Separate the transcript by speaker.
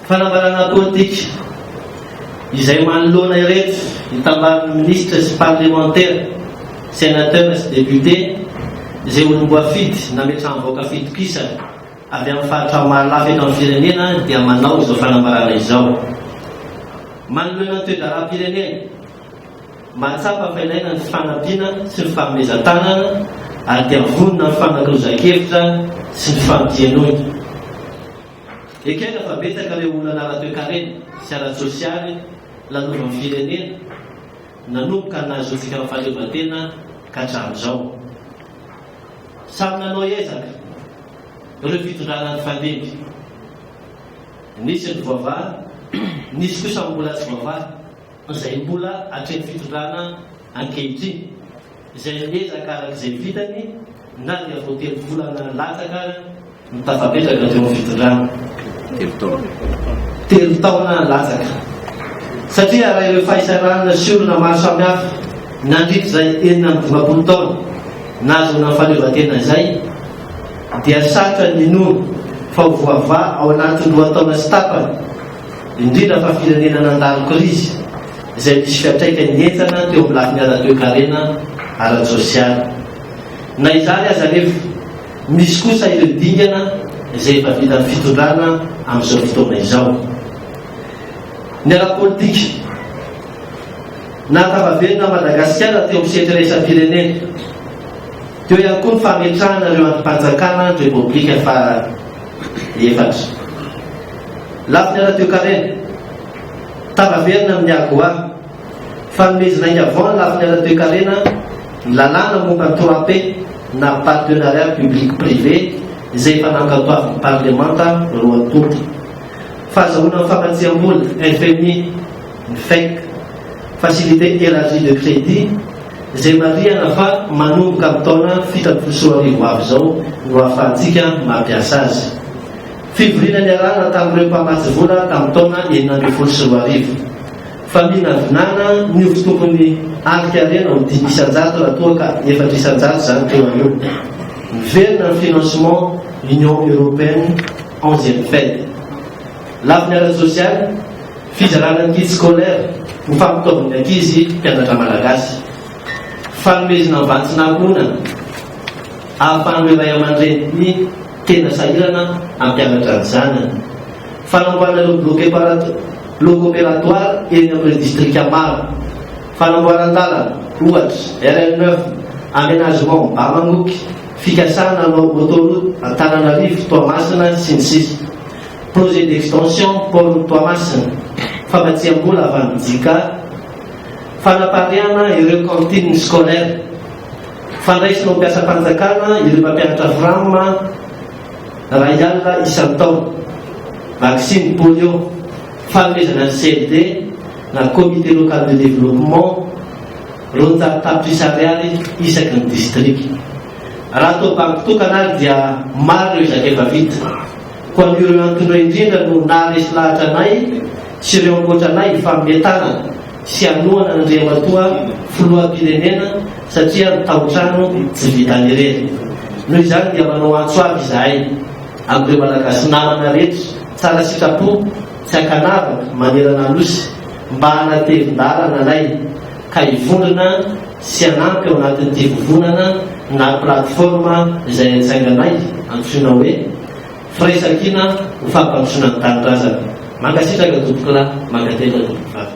Speaker 1: Fanambarana politika izay manoloana ireto itambaran'ny minisitra sy parlemantera, sénateur sy député izay olom-boafidy nametraham-bahoaka fitokisana avy amin'ny faritra maro lafy eto amin'ny firenena dia manao izao fanambarana izao. Manoloana ny toe-draharaham-pirenena, Mahatsapa fa ilaina ny fifanampiana sy ny fanomezan-tanana ary dia vonona ny fanakirozankevitra sy ny fampienoina. Ekena fa betsaka ireo olana ara-toekarena sy ara-tsosialy nanovan'ny firenena nanomboka nahazoantsika ny fahaleovantena ka hatramin'izao. Samy nanao ezaka ireo fitondrana nifandimby. Nisy ny voavaha, nisy kosa ny mbola tsy voavaha. izay mbola hatreny fitondrana ankehitriny, izay miezaka araka izay vitany na dia vao telo volana latsaka ary no tafapetraka teo amin'ny fitondrana. Telo taona. Telo taona latsaka. Satria raha ireo fahisahiranana sy olana maro samihafa nandritra izay enina amby dimampolo taona nahazoana ny fahaleovantena izay dia sarotra ny hinoana fa ho voavaha ao anatin'ny roa taona sy tapany indrindra fa firenena nandalo krizy izay nisy fiantraikany henjana teo amin'ny lafiny ara-toekarena, ara-tsosialy. Na izany aza anefa, misy kosa ireo dingana izay efa vitan'ny fitondrana amin'izao fotoana izao. Ny ara-politika. Nahatava velona an'i Madagasikara teo amin'ny sehatry ny iraisam-pirenena. Teo ihany koa ny fametrahana ireo andrim-panjakana ny Repoblika fara. efatra. Lafiny ara-toekarena, tara-verina amin'ny AGOA, fanomezana aingà vao ny lafiny ara-toekarena ny lalàna momba ny trois-P na partenariat public-privé izay efa nankatoavin'ny Parlemanta roa tonta. Fahazahoana ny famatsiambola, FMI. ny fec, Facilité Elargie de Crédit, izay marihana fa manomboka amin'ny taona fito ambin'ny folo sy roa arivo ho avy izao no hahafahantsika mampiasa azy. Fivoriana niarahana tamin'ireo mpamatsy vola tamin'ny taona enina ambin'ny folo sy roa arivo. Faminavinana ny ovy tokony alika harena ho dimy isan-jato raha toa ka efatra isan-jato izany teo aloha. Miverina ny financement Union Européenne, onzième fed. Lafiny ara-tsosialy, Fizarana ny kit scolaire ho fampitaovin'ny ankizy mpianatra malagasy. Fanomezna vantsina ankohonana ahafahan'ireo ray aman-dreniny tena sahirana hampianatra ny zanany. Fanamboarana ireo blocs blocs opératoires eny amin'ireo distrika maro. Fanamboaran-dalana, ohatra, RN neuf, aménagement Bamamoky, fikasana hanao autoroute Antananarivo, Toamasina, sy ny sisa. Projet d'extension port-n'i Toamasina, famatsiam-bola avy amin'ny JICA, fanapariahana ireo cantines scolaires, fandraisana ho mpiasam-panjakana ireo mpampianatra fram iray alina isan-taona, vaksiny polio, fanomezana ny CLD na Comité Local de Développement roanjato tapitrisa ariary isaky ny distrika. Raha toa banky tokana ary dia maro ireo ezaka efa vita. Koa toy ireo antony ireo indrindra no naharesy lahatra anay sy ireo ankoatra anay hifanome tanana sy hanohana an'Andriamatoa Filoham-pirenena satria ny taotrano tsy vitan'ny irery. Noho izany dia manao antso avo izahay amin'ireo Malagasy namana rehetra tsara sitrapo sy ankanavaka manerana Anosy mba hanatevin-dalana anay ka hivondrona Tsy hanampy ao anatin'ity vovonana na plateforme izay hajainganay antsoina hoe Firaisankina ho fampandrosoana ny tanindrazana. Mankasitraka Tompokolahy, mankatelina Tompokivavy.